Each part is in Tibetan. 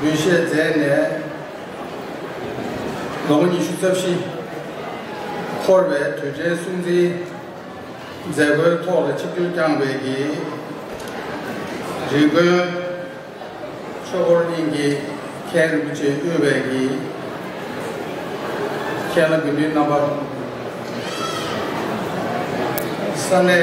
འདུས་བྱས་རྫས་ནས་ལོངས་ཉི་ཤུ་རྩ་བཞི། འཁོར་བའི་དུས་དྲན་སྲུང་བརྩིའི་མཛད་སྒོའི་ཐོག་ལ་ཆིབས་བསྒྱུར་བསྐྱངས་པའི་གྱི་རིགས་མགོན་ཆོས་འཁོར་གླིང་གི་མཁན་རིན་པོ་ཆེ་དབུས་པའི་གྱི་མཁན་ལ་འབུལ་འདྲིའི་རྣམ་པ། ས་གནས།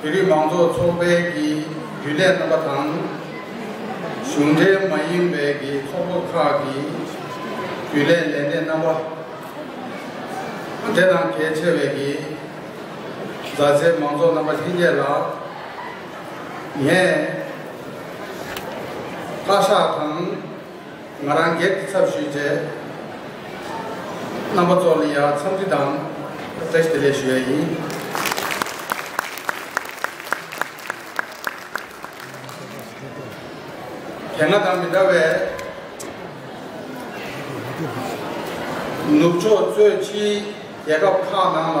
བོད་རིགས་མང་ཚོགས་ཚོགས་པའི་ཀྱི་རྒྱུན་ལས་རྣམ་པ་དང། གཞུང་འབྲེལ་མ་ཡིན་པའི་ཀྱི་ཚོགས་པ་ཁག་གི་རྒྱུན་ལས་ལས་སྣེ་རྣམ་པ། འབྲེལ་དང་གལ་ཆེ་བའི་ཀྱི་མཛའ་བརྩེའི་མང་ཚོགས་རྣམ་པ་ལྷན་རྒྱས་ལགས། ངས་བཀའ་ཤག་དང། ང་རང་སྒེར་གྱི་ཚབ་ཞུས་རྗེས། རྣམ་པ་གཙོ་བོ་ལི་ཡར་འཚམས་འདྲི་དང་བཀྲ་ཤིས་བདེ་ལེགས་ཞུ་ཡ་ཡིན། དེ་སྔ་དང་མི་འདྲ་བའི། ནུབ་ཕྱོགས་གཙོས་ཕྱིའི་རྒྱལ་ཁབ་ཁག་ནང་ལ།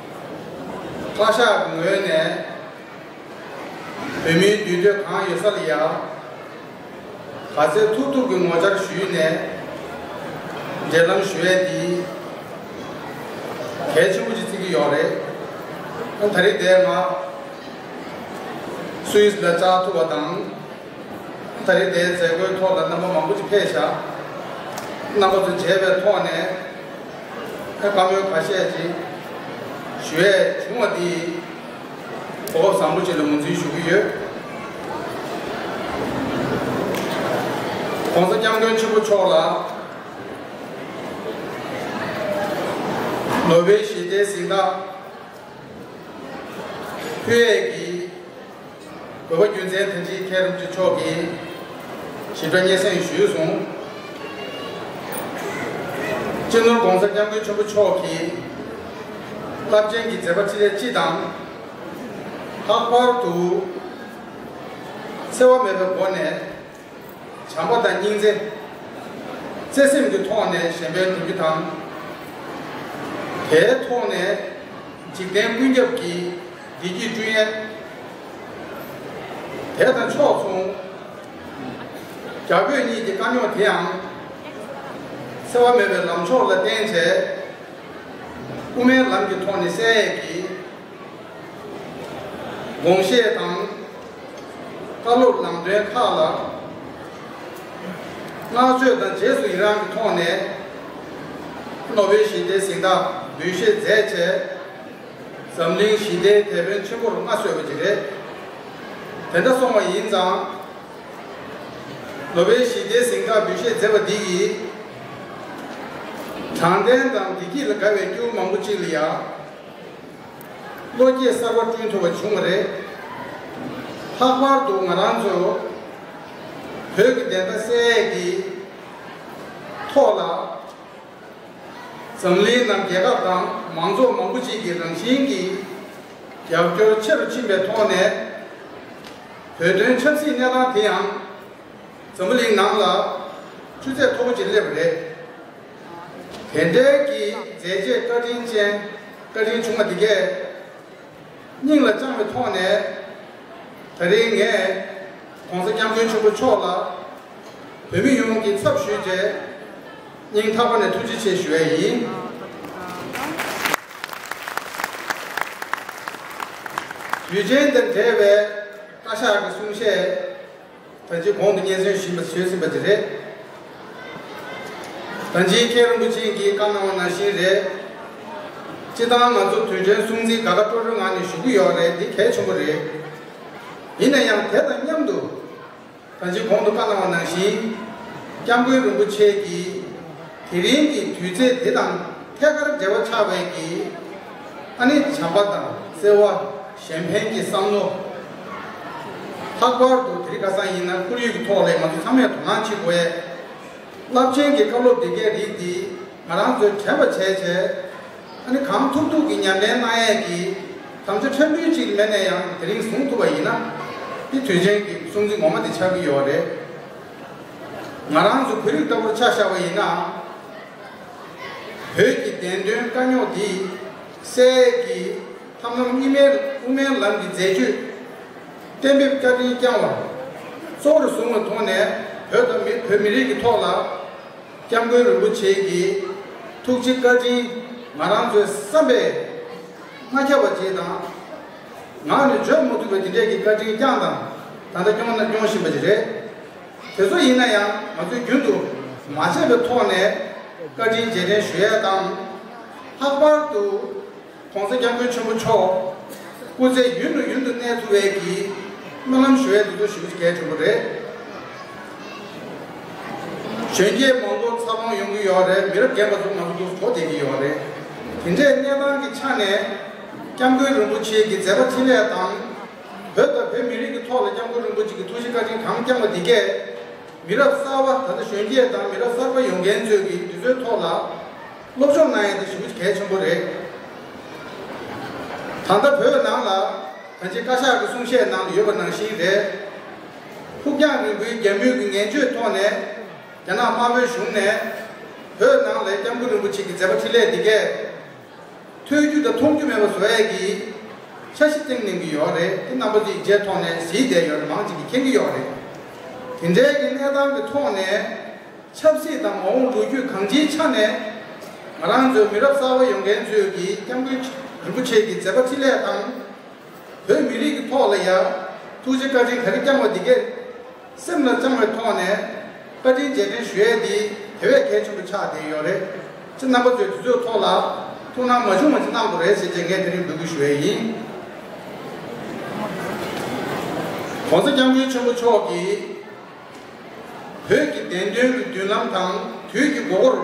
བཀའ་ཤག་གི་ངོས་ནས་བོད་མིའི་འདུས་སྡོད་གང་ཡོད་ས་ལ་ཡར་ག་ཚད་ཐུབ་ཐུབ་ཀྱི་ངོ་བཅར་ཞུས་ནས་འབྲེལ་ལམ་ཞུ་ཡས་འདི་གལ་ཆེན་པོ་ཅིག་བརྩི་གི་ཡོག་རེད། ད་རེས་འདས་ང་སུའུ་ཨིས་ལ་བཅར་ཐུབ་པ་དང། ད་རེས་དེའི་མཛད་སྒོའི་ཐོག་ལ་རྣམ་པ་མང་པོ་ཅིག་ཕེབས་ཤག་རྣམ་པ་ཚོ་མཇལ་བའི་ཐོག་ནས་བཀའ་མོལ་ཁ་ཤས་ཅིག་ཞུ་ཡས་བྱུང་བ་འདིས་གོ་སྐབས་བཟང་པོ་ཅིག་ལ་ངོས་འཛིན་ཞུ་གི་ཡོད། ྋགོང་ས ྋསྐྱབས་མགོན་ཆེན་པོ་མཆོག་ལ་ནོ་བྷེལ་ཞི་བདེའི་གཟེངས་རྟགས་ཕུལ་ཡས་ཀྱི་བོད་པ་རྒྱུ་མཚན་དོན་གཅིག་མཁྱེན་རབ་རྗེ་མཆོག་གིས། ཞིབ་ཕྲ་སྙན་སེང་ཞུས་གསུང། སྤྱི་ནོར ྋགོང་ས ྋསྐྱབས་མགོན་ཆེན་པོ་མཆོག་གིས། རླབས་ཆེན་གྱི་མཛད་པ་ཁྲི་རལ་སྤྱི་དང། ལྷག་པར་དུ། འཚེ་བ་མེད་པའི་སྒོ་ནས། བྱམས་པ་དང་སྙིང་རྗེ། བརྩེ་སེམས་ཀྱི་ཐོག་ནས་གཞན་ཕན་སྒྲུབ་རྒྱུ་དང། དེའི་ཐོག་ནས་འཇིག་རྟེན་ཀུན་ཁྱབ་ཀྱི། བདེ་སྐྱིད་ཀྲུའུ་ཡན། དེ་དང་ཕྱོགས་མཚུངས། རྒྱ་བོད་གཉིས་ཀྱི་དཀའ་རྙོག་དེའང། སེལ་བ་མེད་པའི་ལམ་མཆོག་ལ་བརྟེན་བྱས། དབུ་མའི་ལམ་གྱི་ཐོག་ནས་བསལ་ཡས་ཀྱི། དགོངས་བཞེས་དང། བཀའ་སློབ་ལམ་སྟོན་ཁག་ལ། བསྔགས་བརྗོད་དང་རྗེས་སུ་ཡི་རངས་ཀྱི་ཐོག་ནས། ནོ་བེལ་ཞི་བདེའི་གཟེངས་རྟགས་འབུལ་བཞེས་མཛད་བྱས། འཛམ་གླིང་ཞི་བདེའི་དེད་དཔོན་ཆེན་པོར་མངའ་གསོལ་བ་ཅིག་རེད། དེ་འདྲ་སོང་བ་ཡིན་ཙང། ནོ་བེལ་ཞི་བདེའི་གཟེངས་རྟགས་འབུལ་བཞེས་མཛད་པ་འདི་ཡིས། དྲང་བདེན་དང་བདེ་སྐྱིད་ལ་དགའ་བའི་སྐྱེ་བོ་མང་པོ་ཅིག་ལ་ཡང། བློ་སྐྱེད་གསར་བ་བསྐྲུན་ཐུབ་པ་བྱུང་བ་རེད། ལྷག་པར་དུ་ང་རང་ཚོ་བོད་ཀྱི་བདེན་མཐའ་གསལ་ཡས་ཀྱི་ཐོག་ལ། འཛམ་གླིང་ནང་རྒྱལ་ཁབ་དང་མང་ཚོགས་མང་པོ་ཞིག་གིས་རང་བཞིན་གྱིས་རྒྱབ་སྐྱོར་ཆེ་རུ་ཕྱིན་པའི་ཐོག་ནས། བོད་དོན་ཆབ་སྲིད་གནས་སྟངས་དེ་ཡང་འཛམ་བུ་གླིང་ནང་ལ་ཆུ་ཚད་མཐོ་པོ་ཅིག་སླེབས་པ་རེད། དེ་འབྲེལ་གྱི་མཛད་རྗེས་བཀའ་དྲིན་ཅན་བཀའ་དྲིན་ཆུང་བ་འདི་གས། སྙིང་ལ་བཅངས་པའི་ཐོག་ནས། ད་རིང་ངས ྋགོང་ས ྋསྐྱབས་མགོན་ཆེན་པོ་མཆོག་ལ། བོད་མི་ཡོངས་ཀྱི་ཚབ་ཞུས་རྗེས། སྙིང་ཐག་པ་ནས་ཐུགས་རྗེ་ཆེ་ཞུ་བས་ཡིན། དུས་ཆེན་འདིར་འབྲེལ་བའི་བཀའ་ཤག་གི་གསུང་བཤད། ད་རྗེས་གོང་དུ་སྙན་གསེང་ཞུས་པ་ཟོས་ཟིན་པ་དེ་རེད། ད་རྗེས་མཁན་རིན་པོ་ཆེ་འགིས་བཀའ་གནང་བ་ནང་བཞིན་རེད། སྤྱི་སྟངས་ང་ཚོ་དུས་དྲན་སྲུང་བརྩི་དགའ་དགའ་སྤྲོ་སྤྲོའི་ངང་ནས་ཞུ་གི་ཡོད་རེད་འདི་གལ་ཆེན་པོ་རེད། ཡིན་ན་ཡང་དེ་དང་མཉམ་དུ། ད་རྗེས་གོང་དུ་བཀའ་གནང་བ་ནང་བཞིན། སྐྱབས་མགོན་རིན་པོ་ཆེ་འགིས་དེ་རིང་གི་དུས་ཚེས་འདི་དང་ཐད་ཀར་འབྲེལ་བ་ཆགས་བས་ཀྱིས། ཨ་ནི་བྱམས་པ་དང་བརྩེ་བ། གཞན་ཕན་གྱི་བསམ་བློ། ལྷག་པར་དུ་དེ་རིགས་ཁ་སང་ཡིན་ན་ཁོར་ཡུག་གི་ཐོག་ལས་ང་ཚོ་ཚང་མས་དོ་སྣང་བྱེད་དགོས། རླབས་ཆེན་གྱི་བཀའ་སློབ་འདི་འགའི་རིགས་འདིས་ང་རང་ཚོའི་དྲན་པ་བྱས་བྱས། ད་ནི་གང་ཐུབ་ཐུབ་ཀྱིས་ཉམས་ལེན་གནང་ཡས་ཀྱིས་དམ་བཅའ་ཕྲན་བུའི་ཅིག་མེད་ནས་ཡང་དེ་རིང་བཟུང་ཐུབ་པ་ཡིན་ན། དེ་དུས་ཆེན་གྱི་གསུང་ཚིག་ངོ་མ་དེ་ཆགས་ཀྱི་ཡོད་རེད། ང་རང་ཚོ་བོད་རིགས་ལྟ་བུར་ཆགས་བཞག་པ་ཡིན་ནའང། བོད་ཀྱི་བདེན་དོན་དཀའ་རྙོག་འདི་སེལ་གྱི། ཐབས་ལམ་གཉིས་མེད་དབུ་མའི་ལམ་གྱི་མཛད་སྤྱོད་གཏན་འབེབས་བཀའ་དྲིན་བསྐྱངས་བ་གཙོ་བོར་བཟུང་བ་ཐོག་ནས་བོད་དང་མི་བོད་མི་རིགས་ཀྱི་ཐོག་ལ་སྐྱབས་མགོན་རིན་པོ་ཆེ་གྱི་ཐུགས་རྗེ་བཀའ་དྲིན་ང་རང་ཚོའི་བསམ་པའི་མངའ་ཁྱབ་པ་ཅིག་དང། ངག་ནས་བརྗོད་མ་ཐུབ་པའི་དེ་འདྲས་ཀྱི་བཀའ་དྲིན་བསྐྱངས་དང་ད་ལྟ་སྐྱོང་ན་སྐྱོང་བཞིན་པ་ཞིག་རེད། དེ་ཚོ་ཡིན་ན་ཡང་ང་ཚོས་རྒྱུན་དུ་མ་བརྗེད་པའི་ཐོག་ནས་བཀའ་དྲིན་རྗེས་དྲན་ཞུ་ཡས་དང། ལྷག་པར་དུ། གོང་ས་སྐྱབས་མགོན་ཆེན་པོ་མཆོག། སྐུ་ཚེ་ཡུན་དུ་ཡུན་དུ་གནས་ཐུབ་བས་ཀྱི། སྨོན་ལམ་ཞུ་བས་འདི་ཚོ་ཞུ་རྒྱུ་གལ་ཆེན་པོ་རེད། གཞོན་སྐྱེས་མང་པོ་འཚར་ལོངས་ཡོང་གི་ཡོད་རེད་མི་རབས་རྒན་པ་ཚོ་ང་ཚོ་འདུག་གྲོ་བསྡད་ཀྱི་ཡོད་རེད། དེ་འདྲའི་གནས་སྟངས་ཀྱི་ཆ་ནས། སྐྱབས་མགོན་རིན་པོ་ཆེ་གི་མཛད་པ་འཕྲིན་ལས་དང། བོད་དང་བོད་མི་རིགས་ཀྱི་ཐོག་ལ་སྐྱབས་མགོན་རིན་པོ་ཆེ་གི་ཐུགས་རྗེ་བཀའ་དྲིན་གང་བསྐྱངས་པ་དེ་གས། མི་རབས་གསར་བ་ད་ལྟ་གཞོན་སྐྱེས་དང་མི་རབས་གསར་པ་ཡོང་མཁན་ཚོས་ཀྱི་དེ་ཚོའི་ཐོག་ལ། སློབ་སྦྱོང་གནང་ཡས་དེ་ཞུ་གལ་ཆེན་པོ་རེད། ད་ལྟ་བོད་ནང་ལ་ད་ཅི་བཀའ་ཤག་གི་གསུང་བཤད་ནང་དུ་ཡོད་པ་ནང་བཞིན་རེད། ཕུགས་རྒྱང་རིང་པོའི་རྒྱ་མུས་ཀྱི་ངན་བྱོས་ཐོག་ནས་རྒྱ་ནག་དམར་པོའི་གཞུང་ནས་བོད་ནང་ལས་སྐྱབས་མགོན་རིན་པོ་ཆེ་གི་མཛད་པ་འཕྲིན་ལས་འདི་གས་ཐོས་རྒྱུ་དང་མཐོང་རྒྱུ་མེད་པ་བཟོ་ཡས་ཀྱི་འཆར་གཞི་བཏིང་གནང་གི་ཡོད་རེད་དེ་རྣམ་པ་དེ་ཡི་རྗེས་ཐོག་ནས་གཟིགས་བསྡད་ཡོད་རེད་མང་ཅིག་གིས་མཁྱེན་གྱི་ཡོད་རེད། དེ་འབྲེལ་གྱི་གནས་སྟངས་ཀྱི་ཐོག་ནས། ཆབ་སྲིད་དང་མ་འོངས་ལོ་རྒྱུས་གང་ཅིའི་ཆ་ནས་ང་རང་ཚོའི་མི་རབས་གསར་བ་ཡོང་མཁན་ཚོས་ཀྱིས་སྐྱབས་མགོན་རིན་པོ་ཆེ་གི་མཛད་པ་འཕྲིན་ལས་དང། བོད་མི་རིགས་ཀྱི་ཐོག་ལ་ཡང་ཐུགས་རྗེ་བཀའ་དྲིན་ག་རེ་བསྐྱངས་བ་འདི་གས་སེམས་ལ་བཅངས་བའི་ཐོག་ནས་བཀའ་དྲིན་རྗེས་དྲན་ཞུ་ཡས་འདི་དེ་བས་གལ་ཆེན་པོ་ཆགས་བསྡད་ཡོད་རེད། སྤྱིར་རྣམ་པ་ཚོས་དེ་ཚོའི་ཐོག་ལ་ཐུགས་སྣང་མ་བྱུང་བ་ཅིག་གནང་དགོས་རེད་ཟེར་རྗེས་ངས་དེ་རིང་འབོད་སྐུལ་ཞུ་ཡས་ཡིན། ྋགོང་ས ྋསྐྱབས་མགོན་ཆེན་པོ་མཆོག་གིས། བོད་ཀྱི་བདེན་དོན་གྱི་མདུན་ལམ་དང་དུས་ཀྱི་མགོ་བོར་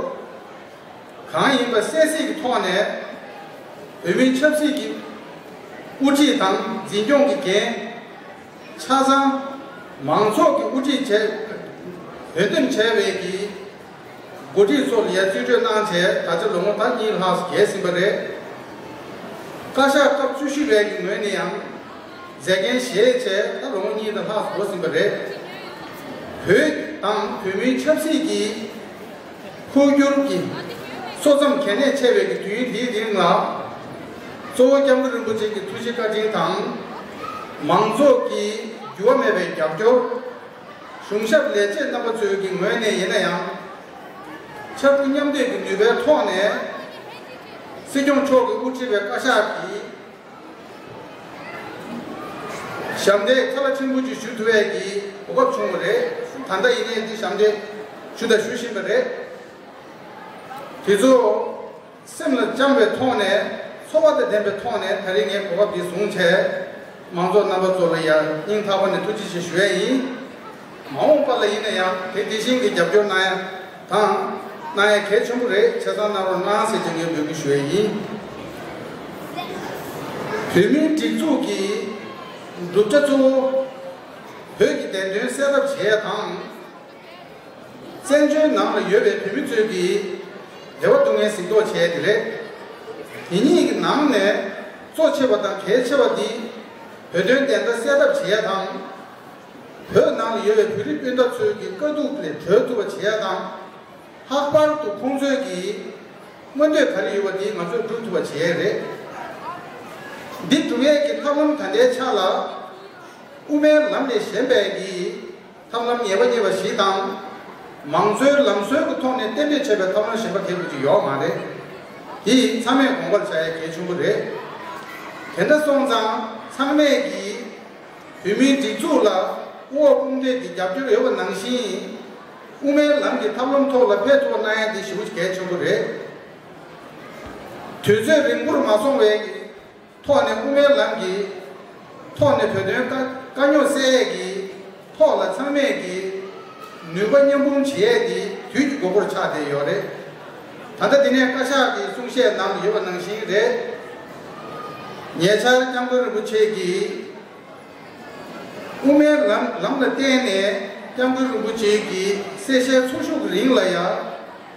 གང་ཡིན་པ་གསལ་གསལ་གྱི་ཐོག་ནས་བོད་མིའི་ཆབ་སྲིད་ཀྱི་དབུ་ཁྲིད་དང་འཛིན་སྐྱོང་གི་འགན་ཆ་ཚང་མང་ཚོགས་ཀྱི་དབུ་ཁྲིད་བྱས་བོད་འདེམས་བྱས་བས་ཀྱི། འགོ་ཁྲིད་ཚོར་ངས་རྩིས་སྤྲོད་གནང་བྱས་ད་ཆ་ལོ་ངོ་ད་གཉིས་ལྷག་བརྒལ་ཟིན་པ་རེད། བཀའ་ཤག་སྐབས་བཅུ་བཞི་བའི་གི་ངོས་ནས་ཡང། མཛད་འགན་བཞེས་བྱས་ད་ལོ་ངོ་གཉིས་ད་ལྷག་འགྲོ་ཟིན་པ་རེད། བོད་དང་བོད་མིའི་ཆབ་སྲིད་ཀྱི། འཕོ་འགྱུར་གྱི། སོ་མཚམས་གལ་གནད་ཆེ་བའི་གི་དུས་ཡུན་དེའི་རིང་ལ། གཙོ་བོ་སྐྱབས་མགོན་རིན་པོ་ཆེ་གི་ཐུགས་རྗེ་བཀའ་དྲིན་དང། མང་ཚོགས་ཀྱི་འགྱུར་བ་མེད་པའི་རྒྱབ་སྐྱོར། གཞུང་ཞབས་ལས་བྱེད་རྣམ་པ་ཚོའི་གི་ངོས་ནས་ཡིན་ན་ཡང། ཕྱར་གྲུ་མཉམ་འདེགས་ཀྱི་ནུས་པའི་ཐོག་ནས། སྲིད་སྐྱོང་མཆོག་གི་དབུ་ཁྲིད་པའི་བཀའ་ཤག་གིས། ཞབས་འདེགས་ཚ་ལ་ཕྲན་བུ་ཅིག་ཞུ་ཐུབ་འི་གི་གོ་སྐབས་བྱུང་བ་རེད། ད་ལྟ་ཡིན་ནའི་འདི་ཞབས་འདེགས་ཞུ་དང་ཞུ་བཞིན་པ་རེད། དེ་ཚོ། སེམས་ལ་བཅངས་པའི་ཐོག་ནས་འཚོ་བ་དང་ལྡན་པའི་ཐོག་ནས་ད་རེས་ངས་གོ་སྐབས་འདི་བཟུང་བྱས། མང་ཚོགས་རྣམ་པ་ཚོ་ལ་ཡང་སྙིང་ཐག་པ་ནས་ཐུགས་རྗེ་ཆེ་ཞུ་ཡས་ཡིན། མ་འོངས་པ་ལ་ཡིན་ན་ཡང་དེ་དེ་བཞིན་གྱི་རྒྱབ་སྐྱོར་གནང་ཡ་དང། གནང་ཡ་གལ་ཆེན་པོ་རེད་བྱས་ཙང་གནང་རོགས་གནང་ཟེར་གྱི་ངས་འབོད་སྐུལ་ཞུ་ཡས་ཡིན། བོད་མིའི་སྒྲིག་འཛུགས་ཀྱི་གྲུབ་ཆ་གཙོ་བོ། བོད་ཀྱི་བདེན་དོན་གསལ་ཐབས་བྱས་ཡ་དང། བཙན་བྱོལ་ནང་ལ་ཡོད་པའི་བོད་མི་ཚོས་ཀྱིས་རེ་བ་སྡུག་བསྔལ་གཟིགས་རྟོག་བྱས་དེ་རེད། དེ་གཉིས་ཀྱི་ནང་ནས་གཙོ་ཆེ་བ་དང་གལ་ཆེ་བ་འདི་བོད་དོན་བདེན་མཐའ་གསལ་ཐབས་བྱེད་ཡ་དང། བོད་ནང་ལ་ཡོད་པའི་བོད་རིགས་སྤུན་ཟླ་ཚོས་ཀྱི་དཀའ་སྡུག་ལས་གྲོལ་ཐུབ་པ་བྱེད་ཡ་དང། ལྷག་པར་དུ་ཁོང་ཚོས་ཀྱི་མངོན་འདོད་ག་རེ་ཡོད་པ་འདི་ང་ཚོས་བསྒྲུབ་ཐུབ་པ་བྱེད་ཡ་རེད། འདི་བསྒྲུབ་ཡས་ཀྱི་ཐབས་ལམ་ད་ལྟའི་ཆ་ལ་དབུ་མའི་ལམ་ལས་གཞན་པའི་ཀྱི། ཐབས་ལམ་ངེས་པ་རྙེད་པ་བཞི་དང། མང་གཙོའི་ལམ་སྲོལ་གྱི་ཐོག་ནས་གཏན་འབེབས་བྱས་པའི་ཐབས་ལམ་གཞན་པ་དེ་ཀུན་གྱིས་ཡོག་མ་རེད། དེ་ཡིན་ཚང་མས་དགོངས་པར་བྱ་ཡ་གལ་ཆེན་པོ་རེད། དེ་འདྲ་སོང་ཙང་ཚང་མས་ཀྱིས། བོད་མིའི་སྒྲིག་འཛུགས་ལ་དབུ་འོག་དཔུང་འདེགས་ཀྱི་རྒྱབ་སྐྱོར་ཡོད་པ་ནང་བཞིན། དབུ་མའི་ལམ་གྱི་ཐབས་ལམ་ཐོག་ལ་ཕད་ཐུག་པ་གནང་ཡ་དེ་ཞེ་བོ་གལ་ཆེན་པོ་རེད། དུས་ཚོད་རིང་པོར་མ་སོང་བའི། ཐོག་ནས་དབུ་མའི་ལམ་གྱི་ཐོག་ནས་བོད་དོན་དཀའ་རྙོག་སེལ་ཡས་ཀྱི་ཐོག་ལ་ཚང་མས་ཀྱི་ནུས་པ་མཉམ་སྤུངས་བྱེད་ཡས་དེ་དུས་ཀྱི་དགོས་མཁོར་ཆགས་བསྡད་ཡོད་རེད། ད་ལྟ་འདི་ནས་བཀའ་ཤག་གི་གསུང་བཤད་ནང་ཡོད་པ་ནང་བཞིན་རེད། ཉེ་ཆར་སྐྱབས་མགོན་རིན་པོ་ཆེ་གིས་དབུ་མའི་ལམ་ལ་བརྟེན་ནས་སྐྱབས་མགོན་རིན་པོ་ཆེ་གིས་གསལ་བཤད་ཚོགས་ཞུགས་རིང་ལ་ཡ།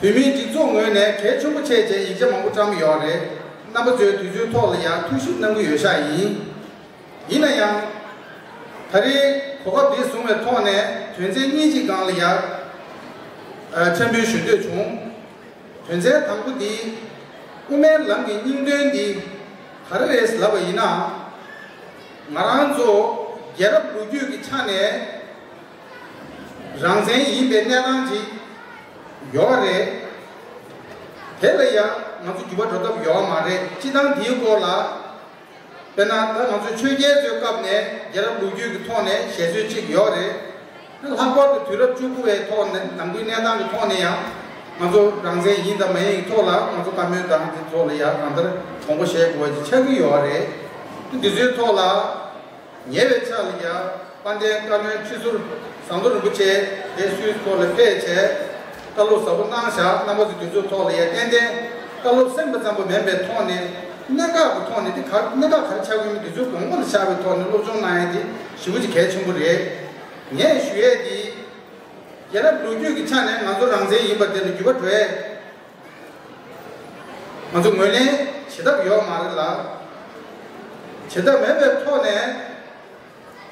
བོད་མིའི་སྒྲིག་འཛུགས་ངོས་ནས་གལ་ཆེན་པོ་ཆེ་བྱས་ཡིག་ཆ་མང་པོ་བཀྲམས་ཡོད་རེད། རྣམ་པ་ཚོའི་དུས་ཚོད་ཐོག་ལ་ཡང་ཐུགས་ཞིབ་གནང་གི་ཡོད་ཤག་ཡིན། ཡིན་ན་ཡང། ད་རེས་གོ་སྐབས་འདི་བཟུང་བའི་ཐོག་ནས་དོན་ཚན་གཉིས་གཅིག་སྒང་ལ་ཡར། འཕྲལ་འབུལ་ཞུ་འདོད་བྱུང། དོན་ཚན་དང་པོ་འདི། དབུ་མའི་ལམ་གྱི་སྙིང་དོན་འདི། ག་རེ་རེད་ལབ་པ་ཡིན་ན། ང་རང་ཚོ་རྒྱལ་རབས་ལོ་རྒྱུས་ཀྱི་ཆ་ནས། རང་བཙན་ཡིན་པའི་གནས་སྟངས་ཅིག་ཡོད་པ་རེད། དེ་ལ་ཡང་ང་ཚོ་འགྱུར་བ་འགྲོ་ཐབས་ཡོད་པ་མ་རེད་སྤྱི་བཏང་འདིའི་སྐོར་ལ། དཔེར་ན་ད་ང་ཚོས་ཆོས་རྒྱལ་ཚོའི་སྐབས་ནས་རྒྱལ་རབས་ལུགས་རྒྱུད་ཀྱི་ཐོག་ནས་བཞེད་སྲོལ་ཅིག་ཡོད་རེད། ལྷག་པར་དུ་དུས་རབས་བཅུ་དགུ་བའི་ཐོག་ནང་དགུའི་གནས་སྟངས་ཀྱི་ཐོག་ནས་ཡང་ང་ཚོ་རང་བཙན་ཡིན་དང་མ་ཡིན་གྱི་ཐོག་ལ་ང་ཚོ་བཀའ་མོལ་དང་དེ་ཐོག་ལ་ཡང་གང་ལྟར་དྲོངས་པོ་བཞེས་དགོས་པ་ཅིག་ཆགས་ཀྱི་ཡོད་རེད། འདི་ཚོའི་ཐོག་ལ། ཉེ་བའི་ཆར་ལ་ཡང་དཔལ་ལྡན་བཀའ་བློན་ཁྲི་ཟུར་ཟམ་གདོང་རིན་པོ་ཆེས་དེ་སུའི་ཚོགས་ལ་ཕེབས་བྱས། བཀའ་སློབ་ཟབ་པོ་གནང་བཞག་རྣམ་པ་ཚོ་དེ་ཚོའི་ཐོག་ལ་ཡང་ཏན་ཏན་བཀའ་སློབ་གསན་པ་ཙམ་པོ་མིན་པའི་ཐོག་ནས་གནད་འགག་གི་ཐོག་ནས་དེ་ག་གནད་འགག་ག་རེ་ཆགས་ཀྱི་ཡོད་མེད་དེ་ཚོའི་དགོངས་པ་ལ་བཞག་པའི་ཐོག་ནས་སློབ་སྦྱོང་གནང་ཡ་དེ་ཞི་བ་ཆེ་གལ་ཆེན་པོ་རེད། ངས་ཞུ་ཡས་དེ། རྒྱལ་རབས་ལོ་རྒྱུས་ཀྱི་ཆ་ནས་ང་ཚོ་རང་བཙན་ཡིན་པ་དེ་ལ་འགྱུར་བ་འགྲོ་ཡས་ང་ཚོ་ངོས་ལེན་བྱེད་ཐབས་ཡོག་མ་རེད་ལ། བྱེད་ཐབས་མེད་པའི་ཐོག་ནས།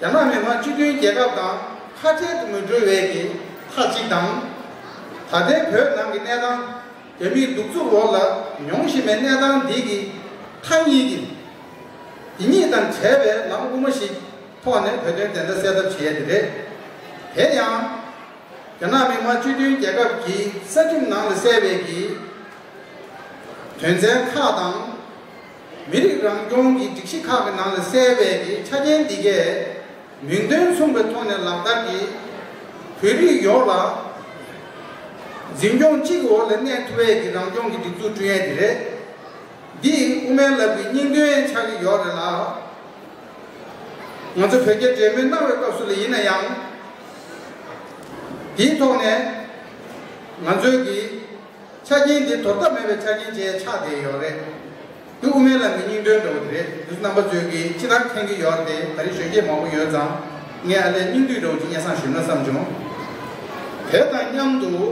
རྒྱ་ནག་མི་དམངས་སྤྱི་མཐུན་རྒྱལ་ཁབ་དང་ཁ་བྲལ་དུ་མི་འགྲོ་བའི་གི་ཐག་གཅིག་དང། ད་ལྟའི་བོད་ནང་གི་གནས་སྟངས་རྒྱ་མིའི་གདུག་རྩུབ་འོག་ལ་མྱོང་བཞིན་པའི་གནས་སྟངས་འདི་གི་མཐའ་གཉིས་ཀྱི། འདི་གཉིས་དང་བྲལ་བའི་ལམ་དབུ་མ་ཞིག་ཐོག་ནས་བོད་དོན་བདེན་མཐའ་གསལ་ཐབས་བྱེད་ཡ་དེ་རེད། དེ་ཡང། རྒྱ་ནག་མི་དམངས་སྤྱི་མཐུན་རྒྱལ་ཁབ་ཀྱི་གསར་ཁྲིམས་ནང་ལ་གསལ་བའི་གྱི་དོན་ཚན་ཁག་དང། མི་རིགས་རང་སྐྱོང་གི་སྒྲིག་གཞི་ཁག་གི་ནང་ལ་གསལ་བའི་གྱི་ཆ་རྐྱེན་འདི་གས་མིང་དོན་མཚུངས་པའི་ཐོག་ནས་ལག་བསྟར་གྱིས་བོད་རིགས་ཡོངས་ལ་འཛིན་སྐྱོང་གཅིག་གི་འོག་ལ་གནས་ཐུབ་པའི་གྱི་རང་སྐྱོང་གི་སྒྲིག་འཛུགས་བསྐྲུན་ཡས་དེ་རེད། འདིས་དབུ་མའི་ལབ་གྱི་སྙིང་དོན་ཡང་ཆགས་ཀྱི་ཡོག་རེད་ལགས། ང་ཚོ་བོད་རྒྱ་འབྲེལ་མོལ་གནང་བའི་སྐབས་སུ་ལ་ཡིན་ན་ཡང། དེའི་ཐོག་ནས་ང་ཚོའི་གི་ཆ་རྐྱེན་དེ་དོར་ཐབས་མེད་པའི་ཆ་རྐྱེན་བཅས་ཆགས་བསྡད་ཡོད་རེད། དེ་དབུ་མའི་ལམ་གྱི་སྙིང་དོན་འདྲ་བོ་དེ་རེད་འདུག་རྣམ་པ་ཚོས་གི་ཅི་ལྟར་མཁྱེན་གྱི་ཡོད་རེད་དེ་ད་རིང་གཞོན་སྐྱེས་མང་པོ་ཡོད་ཙང་ངས་ཨ་ལས་སྙིང་བསྡུས་འདྲ་བོ་ཅིག་སྙན་སང་ཞུས་ན་བསམ་བྱུང། དེ་དང་མཉམ་དུ་དབུ་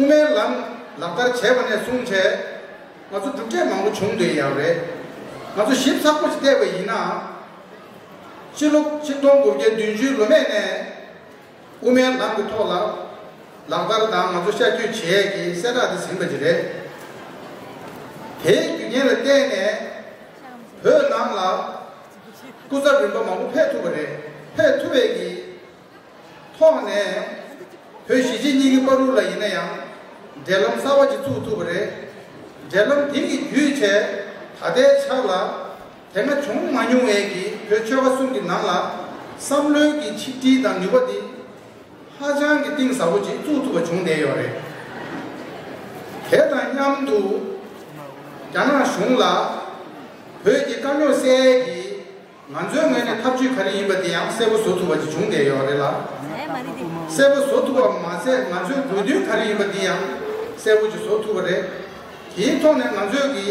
མའི་ལམ་ལག་བསྟར་བྱས་པ་ནས་བཟུང་བྱས། ང་ཚོ་གྲུབ་འབྲས་མང་པོ་བྱུང་འདོད་ཡག་རེད། ང་ཚོ་ཞིབ་ཚགས་པོ་བལྟས་པ་ཡིན་ནའང། ཕྱི་ལོ་ཆིག་སྟོང་དགུ་བརྒྱ་བདུན་ཅུའི་ལོ་སྨད་ནས་དབུ་མའི་ལམ་གྱི་ཐོག་ལ་ལག་བསྟར་དང་ང་ཚོ་ཤར་སྐྱོད་བྱས་ཡས་ཀྱི་གསལ་བསྒྲགས་དེ་ཟིན་པ་དེ་རེད། དེའི་རྒྱུ་རྐྱེན་ལ་བརྟེན་ནས་བོད་ནང་ལ་སྐུ་ཚབ་རིམ་པ་མང་པོ་ཕེབས་ཐུབ་པ་རེད། ཕེབས་ཐུབ་ཡས་ཀྱི། ཐོག་ནས་བོད་གཞིས་བྱེས་གཉིས་ཀྱི་དཔའ་རུ་ལ་ཡིན་ན་ཡང་འབྲེལ་ལམ་གསར་བ་ཅིག་བཙུགས་ཐུབ་པ་རེད། འབྲེལ་ལམ་དེ་ནི་རྒྱུད་ཆད་ད་ལྟའི་ཆར་ལ་དེ་སྔ་བྱུང་མ་མྱོང་བས་ཀྱི་བོད་ཆོལ་ཁ་གསུམ་གྱི་ནང་ལ་བསམ་བློའི་ཀྱི་ཆིག་སྒྲིལ་དང་ནུས་པ་དེ་ཧ་ཅང་གི་གཏིང་ཟབ་པོ་ཅིག་བཙུགས་ཐུབ་པ་བྱུང་བསྡད་ཡོད་རེད། དེ་དང་མཉམ་དུ་རྒྱ་ནག་གཞུང་ལ་བོད་ཀྱི་དཀའ་རྙོག་སེལ་གྱི། ང་ཚོའི་ངོས་ནས་ཐབས་ཇུས་ག་རེ་ཡིན་པ་དེ་ཡང་གསལ་པོ་བཟོ་ཐུབ་པ་ཅིག་བྱུང་བསྡད་ཡོད་རེད་ལ། གསལ་པོ་བཟོ་ཐུབ་པ་མ་ཟད་ང་ཚོའི་དགོས་འདུན་ག་རེ་ཡིན་པ་འདི་ཡང་གསལ་པོ་ཅིག་བཟོ་ཐུབ་པ་རེད། དེའི་ཐོག་ནས་ང་ཚོས་ཀྱི་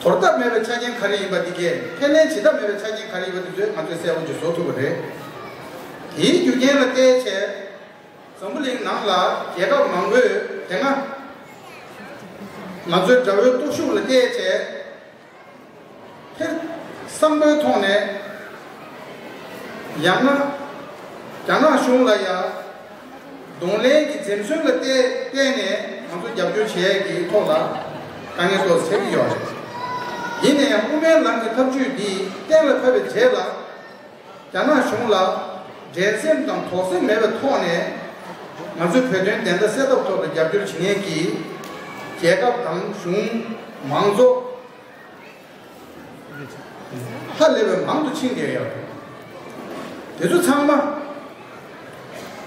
དོར་ཐབས་མེད་པའི་ཆ་རྐྱེན་ག་རེ་ཡིན་པ་འདི་གས་ཁས་ལེན་བྱེད་ཐབས་མེད་པའི་ཆ་རྐྱེན་ག་རེ་ཡིན་པ་འདི་ཚོས་ང་ཚོས་གསལ་པོ་ཅིག་བཟོ་ཐུབ་པ་རེད། དེའི་རྒྱུ་རྐྱེན་ལ་བལྟས་ཚེ། འཛམ་བུ་གླིང་ནང་ལ་རྒྱལ་ཁབ་མང་པོས་དེ་སྔ་ང་ཚོའི་དགྲ་བོའི་སྟོབས་ཤུགས་ལ་བལྟས་ཚེ། ཐེ་བསམ་པའི་ཐོག་ནས། ཡང་ན། རྒྱ་ནག་གཞུང་ལ་ཡང། གདོང་ལེན་གྱི་འཛེམས་ཟོན་ལ་བརྟེན་ནས་ང་ཚོ་རྒྱབ་སྐྱོར་བྱས་ཀྱི་ཐོག་ལ། དཀའ་ངལ་ཏོག་ཟེར་གྱི་ཡོད་རེད། ཡིན་ནའི་དབུ་མའི་ལམ་གྱི་ཐབས་བྱུས་འདིས་གཏན་ལ་ཕབ་པའི་རྗེས་ལ། རྒྱ་ནག་གཞུང་ལ་འགྲན་སེམས་དང་དོགས་སེམས་མེད་པའི་ཐོག་ནས། ང་ཚོས་བོད་དོན་བདེན་མཐའ་གསལ་ཐབས་ཐོག་ཏུ་རྒྱབ་སྐྱོར་བྱེད་ངེས་ཀྱི། རྒྱལ་ཁབ་དང་གཞུང། མང་གཙོ། ཧ་ལས་པའི་མང་དུ་ཕྱིན་དགོས་ཡོད། དེ་ཚོ་ཚང་མ།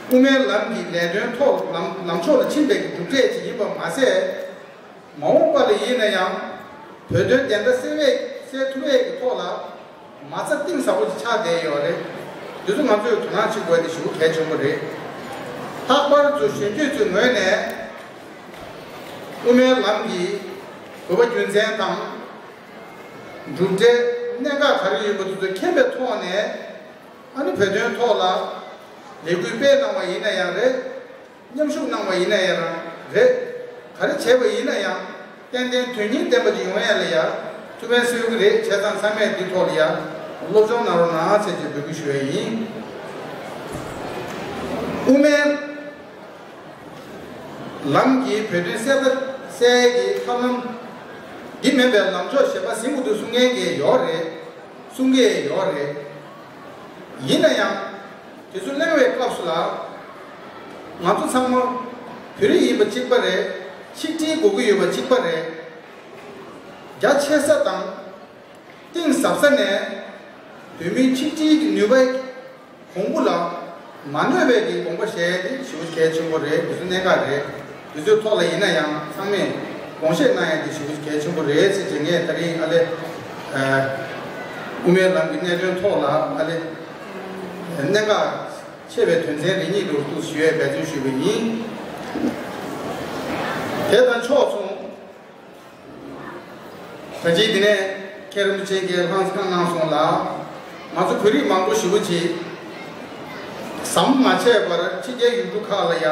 དབུ་མའི་ལམ་གྱི་ལས་དོན་ཐོག་ལམ་ཕྱོགས་ལ་ཕྱིན་པའི་གྲུབ་འབྲས་ཅིག་ཡིན་པ་མ་ཟད། མ་འོངས་པ་ལ་ཡིན་ན་ཡང། བོད་དོན་བདེན་མཐའ་གསལ་ཐུབ་བས་ཀྱི་ཐོག་ལ། མ་རྩ་གཏིང་ཟབ་པོ་ཞིག་ཆགས་བསྡད་ཡོད་རེད། དེ་ཚོ་ང་ཚོས་དོ་སྣང་བྱེད་དགོས་ཏེ་ཞུ་གལ་ཆེན་པོ་རེད། ལྷག་པར་དུ་གཞོན་སྐྱེས་ཚོའི་ངོས་ནས། དབུ་མའི་ལམ་གྱི་གོ་བ་རྒྱུ་མཚན་དང། གྲུབ་འབྲས་གནད་འགག་ག་རེ་ཡོད་པ་དེ་ཚོ་མཁྱེན་པའི་ཐོག་ནས། ཨ་རི་བོད་དོན་ཐོག་ལ་ལས་འགུལ་སྤེལ་གནང་བ་ཡིན་ན་ཡང་རེད། མཉམ་ཞུགས་གནང་བ་ཡིན་ན་ཡང་རང་རེད། ག་རེ་བྱས་པ་ཡིན་ན་ཡང་ཏན་ཏན་དོན་སྙིང་ལྡན་པ་ཅིག་ཡོང་ཡ་ལ་ཡར་ཐུགས་ཕན་གསོས་ཀྱི་རེད་བྱས་ཙང་ཚང་མས་འདི་ཐོག་ལ་ཡར་སློབ་སྦྱོང་གནང་རོགས་གནང་ཚེ་ཅེས་འབོད་སྐུལ་ཞུ་ཡ་ཡིན། དབུ་མའི་ལམ་གྱིས་བོད་དོན་གསལ་ཁ་གསལ་གྱི་ཐབས་ལམ། འདི་མེད་པའི་ལམ་ཕྱོགས་ཞེས་པ་གཟིགས་མོ་དུ་གསུང་མཁན་གྱི་ཡོག་རེད། གསུང་གི་ཡོག་རེད། ཡིན་ན་ཡང། དེ་ཚོ་གླེང་བའི་སྐབས་སུ་ལ། ང་ཚོ་ཚང་མ་བོད་རིགས་ཡིན་པ་གཅིག་པ་རེད། ཆིག་སྒྲིལ་དགོས་ཀྱི་ཡོད་པ་གཅིག་པ་རེད། རྒྱ་ཆེ་ས་དང། གཏིང་ཟབ་ས་ནས། བོད་མིའི་ཆིག་སྒྲིལ་གྱི་ནུས་པ། གོང་བུ་ལ་མ་གནོད་པའི་གྱི་དགོངས་པ་བཞེས་ཏེ་ཞུ་གལ་ཆེན་པོ་རེད་དེ་ཚོ་གནད་འགག་རེད། དུས་ཚོད་ཐོག་ལ་ཡིན་ན་ཡང་ཚང་མས་དགོངས་བཞེས་གནང་ཡ་དེ་ཞུ་རྒྱུ་གལ་ཆེན་པོ་རེད་ཟེར་རྗེས་ངས་ད་རིང་ཨ་ལེ། དབུ་མའི་ལམ་གྱི་གནད་དོན་ཐོག་ལ་ཨ་ལེ། གནད་འགག་ཆེ་བའི་དོན་ཚན་རེ་གཉིས་འགྲོ་བསྡུ་ཞུ་ཡས་འབད་བརྩོན་ཞུས་པ་ཡིན། དེ་དང་ཕྱོགས་མཚུངས། ད་ཅིའི་དེ་ནས་མཁན་རིན་པོ་ཆེ་འགས་ལྷང་ཚང་གནང་སོང་ལ། ང་ཚོ་བོད་རིགས་མང་པོ་ཞི་བ་བྱེད། ཟམ་མ་ཆད་པར་ཕྱི་རྒྱལ་ཡུལ་གྲུ་ཁག་ལ་ཡ།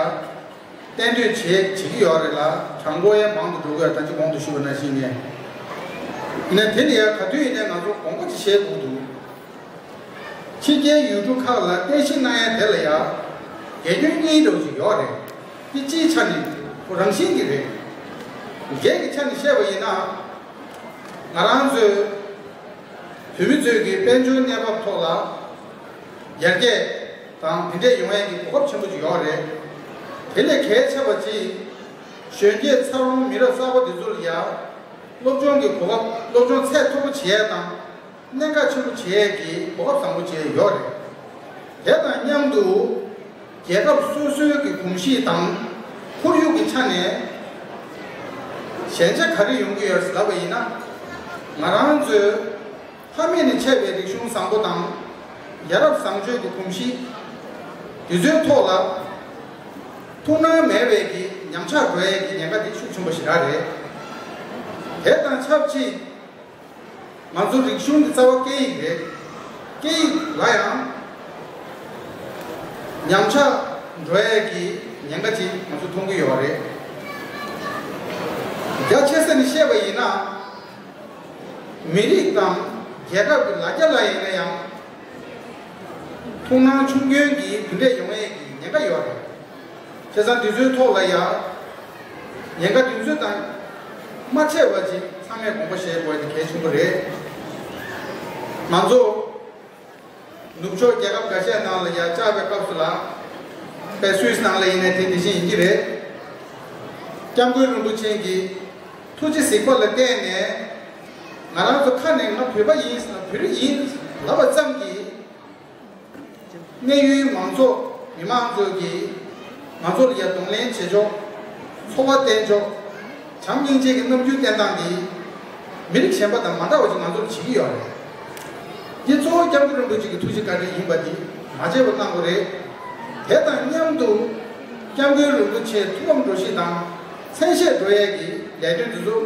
གཏན་སྡོད་བྱས་བྱེད་ཀྱི་ཡོད་རེད་ལ་གྲངས་འབོར་ཡང་མང་དུ་འགྲོ་གི་ཡོད་ད་ཅི་གོང་དུ་ཞུས་པ་ནང་བཞིན་ཡིན་ནའི་དེ་ནི་ཡང་ག་དུས་ཡིན་ནའི་ང་ཚོར་དགོངས་པ་ཅི་བཞེས་དགོས་འདུག་ཕྱི་རྒྱལ་ཡུལ་གྲུ་ཁག་ལ་བསྟན་བཤིག་གནང་ཡ་དེ་ལ་ཡ་གད་སྐྱོན་གཉིས་འགྲོ་བཞིན་ཡོད་རེད་དེ་སྤྱིའི་ཆ་ནས་བུ་རང་བཞིན་གྱི་རེད། རྒྱས་ཀྱི་ཆ་ནས་བཤད་པ་ཡིན་ན། ང་རང་ཚོའི་བོད་མི་ཚོས་ཀྱི་དཔལ་འབྱོར་གནས་བབ་ཐོག་ལ་ཡར་རྒྱས། དང་འདི་འདྲས་ཡོང་ཡས་ཀྱི་གོ་སྐབས་ཆེན་པོ་ཅིག་ཡོང་བ་རེད། དེ་ལས་གལ་ཆེ་བ་གཅིག། གཞོན་སྐྱེས་འཚར་ལོངས་མི་རབས་གསར་པ་འདི་ཚོ་ལ་ཡང། སློབ་སྦྱོང་གི་གོ་སྐབས་སློབ་སྦྱོང་ཚད་མཐོ་པོ་བྱེད་ཡས་དང། གནད་འགག་ཆེན་པོ་བྱེད་ཡས་ཀྱི་གོ་སྐབས་བཟང་པོ་བཅས་ཡོད་རེད། དེ་དང་མཉམ་དུ། རྒྱལ་ཁབ་སོ་སོའི་གི་གོམས་གཤིས་དང། ཁོར་ཡུག་གི་ཆ་ནས། ཞན་ཆ་ག་རེ་ཡོང་གི་ཡོད་ཟེར་བ་ཡིན་ན། ང་རང་ཚོའི། ཕ་མེས་ནས་ཆད་པའི་རིག་གཞུང་བཟང་པོ་དང། ཡ་རབས་བཟང་སྤྱོད་ཀྱི་གོམས་གཤིས། དུས་ཚོད་ཐོག་ལ་ཐུགས་སྣང་མེད་བས་ཀྱི་ཉམས་ཆག་འགྲོ་ཡས་ཀྱི་ཉེན་ཁ་དེ་ཤུགས་ཆེན་པོ་ཞིག་རག་རེད། དེ་དང་ཆབས་ཅིག་ང་ཚོ་རིག་གཞུང་གི་རྩ་བ་སྐད་ཡིག་རེད། སྐད་ཡིག་ལ་ཡང་ཉམས་ཆག་འགྲོ་ཡས་ཀྱི་ཉེན་ཁ་ཅིག་ང་ཚོ་མཐོང་གི་ཡོད་རེད། རྒྱ་ཆེ་ས་ནས་བཤད་པ་ཡིན་ན། མི་རིགས་དང་རྒྱལ་ཁབ་ཀྱི་ལ་རྒྱ་ལ་ཡིན་ན་ཡང་ཐུགས་སྣང་ཆུང་སྐྱོན་གྱིས་དེ་འདྲས་ཡོང་ཡས་ཀྱི་ཉེན་ཁ་ཡོད་རེད། ཁྱེད་ཚང་འདི་ཚོའི་ཐོག་ལ་ཡང་ཉེན་ཁ་དེ་ཚོའི་དང་མ་ཆད་བར་གྱི་ཚང་མས་དགོངས་པ་བཞེས་དགོས་དེ་གལ་ཆེན་པོ་རེད། ང་ཚོ་ནུབ་ཕྱོགས་རྒྱལ་ཁབ་འགའ་ཤས་ནང་ལ་ཡར་བཅར་བའི་སྐབས་སུ་ལ། བལ་སུད་ནང་ལ་ཡིན་ནས་དེ་དེ་བཞིན་ཡིན་གྱི་རེད། སྐྱབས་མགོན་རིན་པོ་ཆེན་གྱིས་ཐུགས་རྗེ་གཟིགས་པ་ལ་བརྟེན་ནས། ང་རང་ཚོ་ཁ་ནས་ང་བོད་པ་ཡིན་ཟེར་ན་བོད་རིགས་ཡིན་ལབ་པ་ཙམ་གྱིས། གནས་ཡུལ་མང་ཚོགས་མི་མང་ཚོས་ཀྱིས་ང་ཚོར་ཡར་གདོང་ལེན་བྱེད་ཆོག། འཚོ་བ་བརྟེན་ཆོག། བྱམས་སྙིང་རྗེ་གི་རྣམ་འགྱུར་བསྟན་སྟངས་འདིས། མི་རིགས་གཞན་པ་དང་མ་འདྲ་བ་ཞིག་ང་ཚོར་བྱེད་ཀྱི་ཡོད་རེད། ངས་གཙོ་བོ་སྐྱབས་མགོན་རིན་པོ་ཆེ་གི་ཐུགས་རྗེ་བཀའ་དྲིན་ཡིན་པ་འདི་མ་བརྗེད་པར་གནང་དགོས་རེད། དེ་དང་མཉམ་དུ། སྐྱབས་མགོན་རིན་པོ་ཆེའི་ཐུགས་ཕམ་འགྲོ་གཞི་དང། མཚན་བཤད་འགྲོ་ཡས་ཀྱི་ལས་དོན་འདི་ཚོ།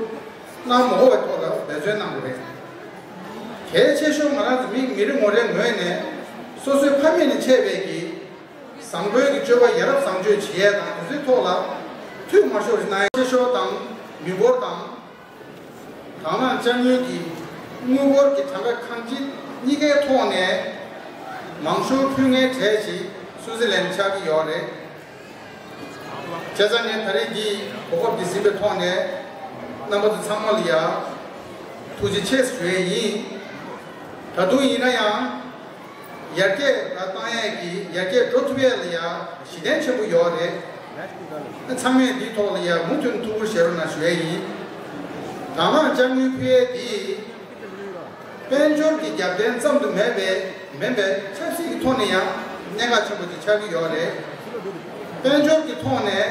སྣང་མ་འོ་བའི་ཐོག་ལ་འབད་བརྩོན་གནང་དགོས་རེད། གལ་ཆེ་ཤོས་ང་རང་ཚོ་མི་རེ་ངོ་རེ་ངོས་ནས། སོ་སོའི་ཕ་མེས་ནས་ཆད་པས་ཀྱི། བཟང་པོའི་གི་སྤྱོད་པ་ཡ་རབས་བཟང་སྤྱོད་བྱེད་ཡས་དང་དེ་ཚོའི་ཐོག་ལ། ཐུགས་མ་ཤོར་རི་ན་ཡ། ཆེ་ཤོར་དང་མི་འབོར་དང། དག་སྣང་དཔྱ་དངུལ་གྱི། དངུལ་འབོར་གྱི་གྲངས་ཀ་ཁང་གཅིག་གཉིས་ཀའི་ཐོག་ནས། མང་ཤོར་ཕུལ་ངའི་གྲས་ཤིག་སུའུ་ཟི་ལན་ཆགས་ཀྱི་ཡོད་རེད། བྱས་ཙང་ངས་ད་རེས་འདིའི་གོ་སྐབས་འདི་ཟིན་པའི་ཐོག་ནས། རྣམ་པ་ཚོ་ཚང་མ་ལ་ཡ། ཐུགས་རྗེ་ཆེ་ཞུ་ཡས་ཡིན། ད་དུང་ཡིན་ན་ཡང། ཡར་རྒྱས་ལ་བཏང་ཡས་ཀྱི་ཡར་རྒྱས་འགྲོ་ཐུབ་ཡས་ལ་ཡ་གཞི་གདན་ཆེན་པོ་ཡོག་རེད། ཚང་མས་འདིའི་ཐོག་ལ་ཡ་མུ་མཐུན་ཐུགས་ཁུར་བྱེད་རོགས་གནང་ཞུ་ཡས་ཡིན། དང་བླངས་དཔྱ་དངུལ་ཕུལ་ཡས་དེ་དཔལ་འབྱོར་གྱི་རྒྱབ་རྟེན་ཙམ་དུ་མེད་པས་མིན་པས་ཆབ་སྲིད་ཀྱི་ཐོག་ནས་ཡང་གནད་འགག་ཆེན་པོ་དེ་ཆགས་ཀྱི་ཡོག་རེད། དཔལ་འབྱོར་གྱི་ཐོག་ནས།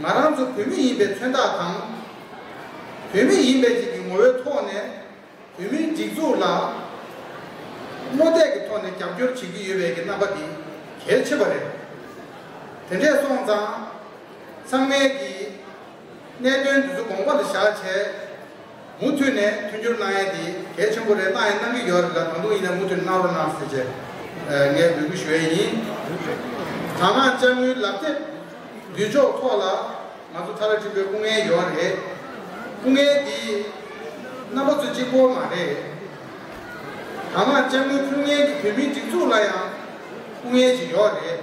ང་རང་ཚོ་བོད་མི་ཡིན་པའི་མཚོན་རྟགས་དང། བོད་མི་ཡིན་པའི་རིགས་ཀྱི་ངོ་བོའི་ཐོག་ནས་བོད་མིའི་སྒྲིག་འཛུགས་ལ་རྨོ་རྡེག་གི་ཐོག་ནས་རྒྱབ་སྐྱོར་བྱེད་ཀྱི་ཡོད་པའི་ཀྱི་རྣམ་པ་འདི་གལ་ཆེ་བ་རེད། དེ་འདྲས་སོང་ཙང་ཚང་མའི་ཀྱི་གནད་དོན་འདི་ཚོ་དགོངས་པ་ལ་བཞག་བྱས། མུ་མཐུད་ནས་མཐུན་འགྱུར་གནང་ཡས་དེ་གལ་ཆེན་པོ་རེད་གནང་ཡས་གནང་གི་ཡོད་རེད་ལ་ད་དུང་ཡིན་ནས་མུ་མཐུད་གནང་རོགས་གནང་ཟེར་ཆེད་ངས་འབོད་སྐུལ་ཞུ་ཡས་ཡིན། དྲ་ངག་ལྕགས་དངུལ་ལག་དེབ་བསྡུས་འཇོག་ཐོག་ལ་ང་ཚོ་ཐ་ར་ཁྲིམས་པའི་སྐུ་ངལ་ཡོད་རེད། སྐུ་ངལ་དེ་རྣམ་པ་ཚོ་གཅིག་པོ་མ་རེད། དྲ་ངག་ལྕགས་དངུལ་ཕུལ་མཁན་གྱི་བོད་མིའི་སྒྲིག་འཛུགས་ལ་ཡང་སྐུ་ངལ་ཞིག་ཡོད་རེད།